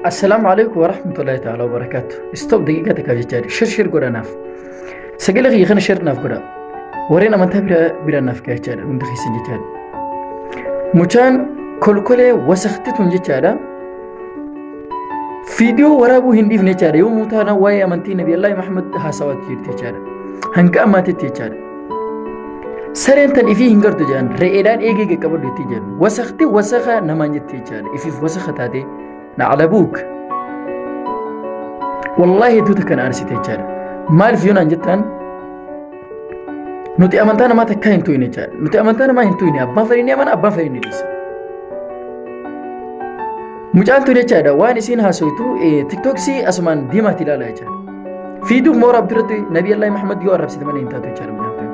Assalaamu alaikum warahmatullahi ta'ala wabarakaatu. Stop daqiiqaa takka jechaa jiru. Shir shir godhanaaf. Sagalee kiyya kana shir naaf godha. Warreen amantaa bira bira naaf gahaa jechaadha. Hundi keessan jechaadha. Mucaan kolkolee wasakti tun jechaadha. Viidiyoo waraabuu hin dhiifne jechaadha. Yommuu taana waa'ee amantii Nabi Allah Muhammad haasawaatti jirti jechaadha. Hanga ammaatitti jechaadha. Sareen tan ifii hin gartu jedhan re'eedhaan eegee qaqqabadhu itti jedhu. Wasakti wasaka namaan jetti jechaadha. Ifiif wasaka taatee nacalabuuk. Wallaahi hedduu takka na aarsite jechaadha. Maaliif yoo naan jettaan nuti amantaa namaa takkaa hin tuyne jechaadha. Nuti amantaa namaa hin tuyne abbaan fedhii ni amana abbaan fedhii ni dhiisa. Mucaan tun jechaadha waan isiin haasoytu tiktoksii asumaan diimaatti ilaala jechaadha. fiiduu moo rabbi irratti nabi allah muhammad yoo arrabsite malee hin taatu jechaadha munaafqaan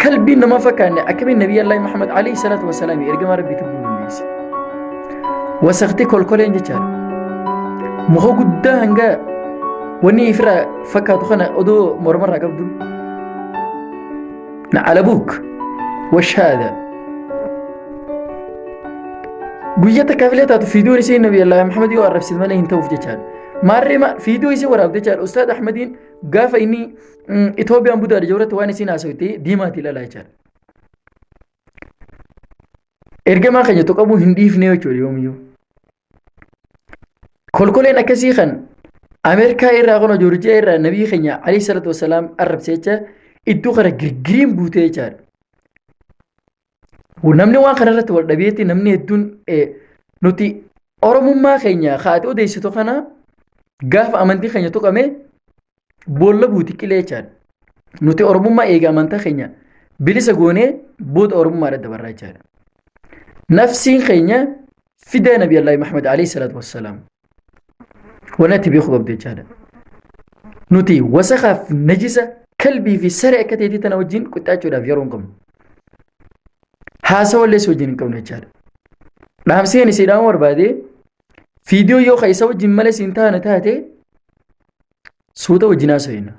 kalbiin nama fakkaanne akkamiin nabi allah muhammad alayhi salaatu wasalaam ergamaa rabbi tubbuu dandeesse wasakti kolkoleen jechaadha muka guddaa hanga wanni ifirraa fakkaatu kana odoo mormarraa qabdu na alabuuk washaada guyyaa takkaaf illee taatu fiiduun isii nabi allah muhammad yoo arrabsite malee hin ta'uuf jechaadha Maarree ma fiidoo isii waraabde jechaadha. Ustaad Ahmadiin gaafa inni Itoophiyaan budaadha jirurratti waan isiin haasawite diimaati ilaalaa jechaadha. Ergamaa keenya tuqamuu hin dhiifne jechuudha yoomiyyuu. Kolkoleen akkasii kan Ameerikaa irraa kun Joorjiyaa irraa nabii keenya alayhi salatu wasalaam arrabse jecha iddoo kana girgiriin buutee jechaadha. namni waan kana irratti wal dhabeetti namni hedduun nuti oromummaa keenya kaa'ate odeessitu kana gaafa amantii keenya tuqame boolla buuti qileechaan nuti oromummaa eega amantaa keenya bilisa goonee booda oromummaadha dabarraa jechaadha. Nafsiin keenya fidee nabi allahi muhammad alayhi salaatu wassalaam waan itti beeku qabdu jechaadha nuti wasakaaf najisa kalbii fi saree akka ta'etti tana wajjin qixxaachuudhaaf yeroo hin qabnu haasawa illee si wajjin hin qabnu jechaadha dhaamseen isiidhaan barbaade fiidiyoo yoo ka isa wajjin malee siin taane taate suuta wajjin haasawina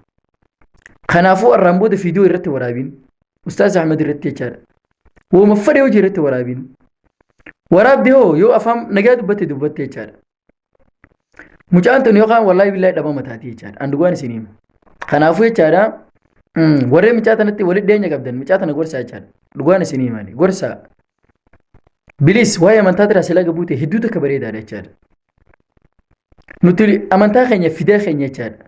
kanaafuu arraan booda fiidiyoo irratti waraabiin ustaaz ahmed irratti jechaadha wooma fadhe hojii irratti waraabiin waraabde hoo yoo afaan nagaa dubbatte dubbatte jechaadha mucaan tun yookaan wallaahi billaahi dhabama taati jechaadha an dhugaan isin himu kanaafuu jechaadha mm, warreen mucaa tanatti walitti dhiyeenya qabdan mucaa tana gorsaa jechaadha dhugaan isin himani gorsaa bilis waa'ee amantaa tiraa silaa gabuute hedduu takka bareedaadha jechaadha nuti amantaa keenya fidaa keenya jechaadha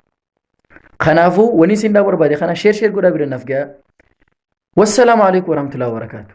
Kanaafuu wani isin dhaa barbaade kana sheer sheer godhaa bira naf gayaa. Wassalaamu alaikum warahmatullahi wabarakatuh.